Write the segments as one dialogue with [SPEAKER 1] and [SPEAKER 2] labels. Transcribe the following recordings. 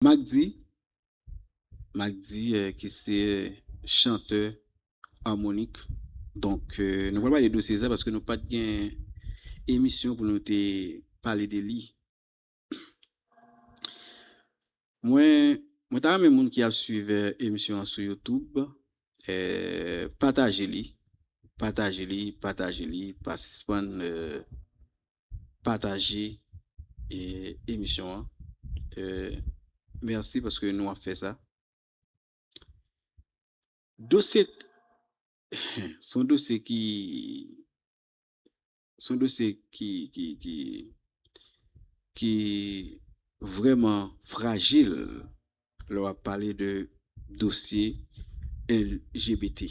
[SPEAKER 1] Macdy Macdy ki se chantè Harmonik donk nou pral pale de dosye sa paske nou pat gen emisyon pou nou te pale de li mwen mwen ta renmen moun ki ap swiv emisyon an sou youtube pataje li pataje li pataje li pa sispann pataje emisyon an merci paske nou ap fè sa dosye son dosye ki son dosye ki ki vreman frajil lè wap pale de dosye LGBT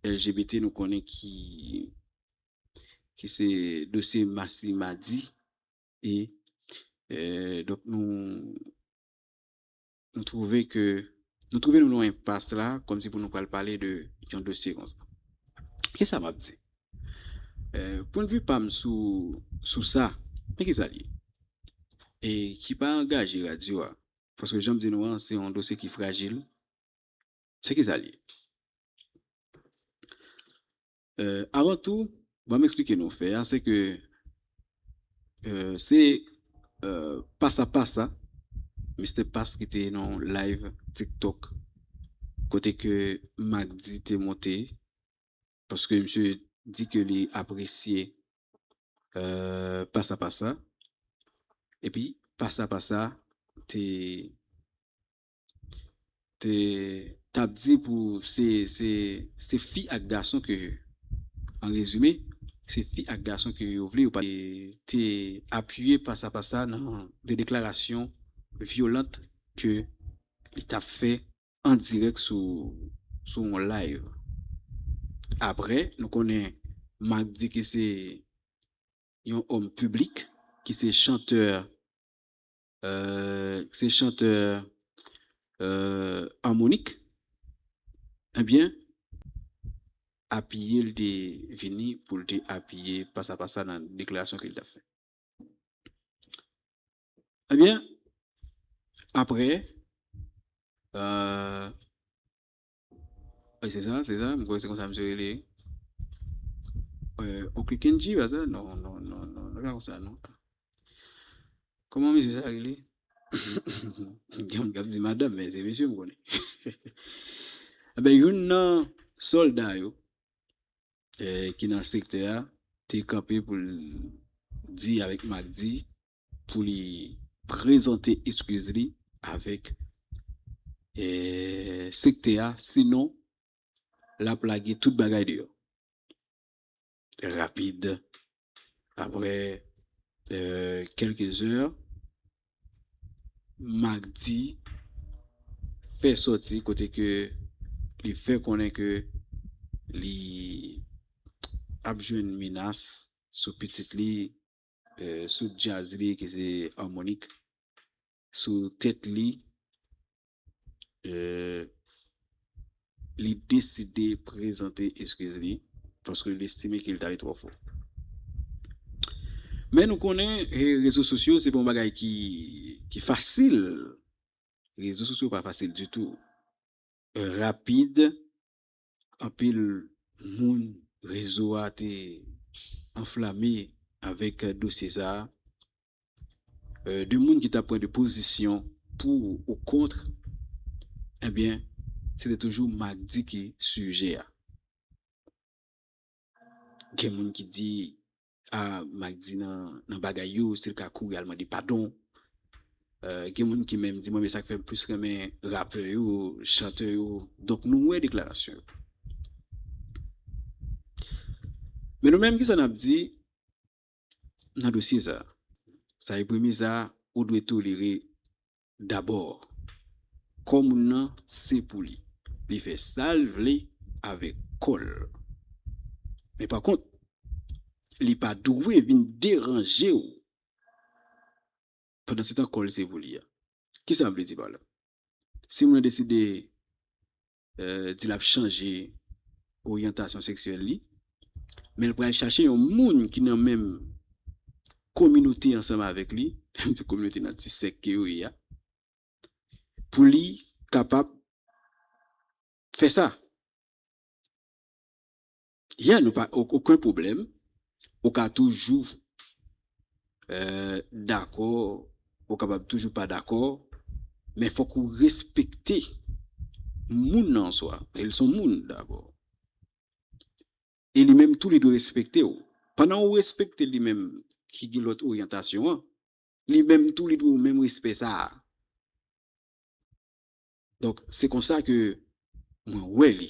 [SPEAKER 1] LGBT nou konnen ki ki se dosye Masy Mady e donk nou nou twouve ke nou twouve nou nan yon enpas la kòmsi pou nou pral pale de yon dosye konsa. Kisa m ap di? Pwennvi pa m sou sa men kisa l ye e ki pa angaje radyo a paske jan m di nou an se yon dosye ki frajil se kisa l ye? Avan tou, banm esplike nou fè a, se ke se pasa pasa Mister Pass ki te nan yon live tiktok kote ke Macdy te monte paske misye di ke li apresye pasa pasa epi pasa pasa te te tap di pou se se se fi ak gason ke an rezime se fi ak gason ke yo vle yo pa te apiye pasa pasa nan de deklarasyon vyolant ke li tap fè an dirèk sou sou yon live aprè nou konnen Marc di ke se yon òm piblik ki se chantè Euh se chantè euh Harmonik ebyen apiyel te vini poul te apiye pasa pasa nan deklarasyon kel tap fè ebyen aprè euh. Wi se sa, se sa, m kwè se konsa misye rele. Oncle Kendji pa sa? Non, non, non, non, li pa konsa non. Kòman misye sa rele? Gen moun k ap di madanm men se misye m konnen. Enben youn nan sòlda yo ki nan sektè a te kanpe pou l di avèk Makdi Pou li prezante eskiz li avèk sektè a sinon lap lage tout bagay deyò rapid aprè kèlke zè Magdi fè sòti kote ke li fè konnen ke li ap jwenn menas sou pitit li Sou djaz li ki se Harmonik, sou tèt li, li deside prezante eskiz li paske li estime ke li t ale twò fò. Men nou konnen rezo sosyo se pa yon bagay ki fasil, rezo sosyo pa fasil ditou. Rapid, anpil moun rezo a te anflame avèk dosye sa, de moun ki ta pran de pozisyon pou ou kontr, ebyen se te toujou Macdy ki sijè a. Gen moun ki di Ah Magdy nan bagay yo sil ka kouri al mande padon gen moun ki menm di mwen men sak fèm plis renmen rapè yo chantè yo donk nou wè deklarasyon yo men nou menm kisa nap di nan dosye sa sa ebrimi sa ou dwe tolere Dabò, kò moun nan se pou li. Li fè sa l vle avèk kò l. Men pakont, li pa dwe vin deranje w pandansetan kò l se pou li a. Ki sa m vle di pa la? Si moun nan deside di l ap chanje oryantasyon seksyèl li, men l pral chache yon moun ki nan menm kominote ansanm avèk li, menm ti kominote nan ti sèk ke yo ye a, pou li kapab fè sa. Yeah nou pa oken pwoblèm ou ka toujou dakò ou kapab toujou pa dakò men fòk ou respekte moun nan answa paske li son moun dabò e li menm tou li dwe respekte ou pandan ou respekte li menm ki gen lòt oryantasyon an li menm tou li dwe ou menm respè sa a. Donk se konsa ke mwen wè li.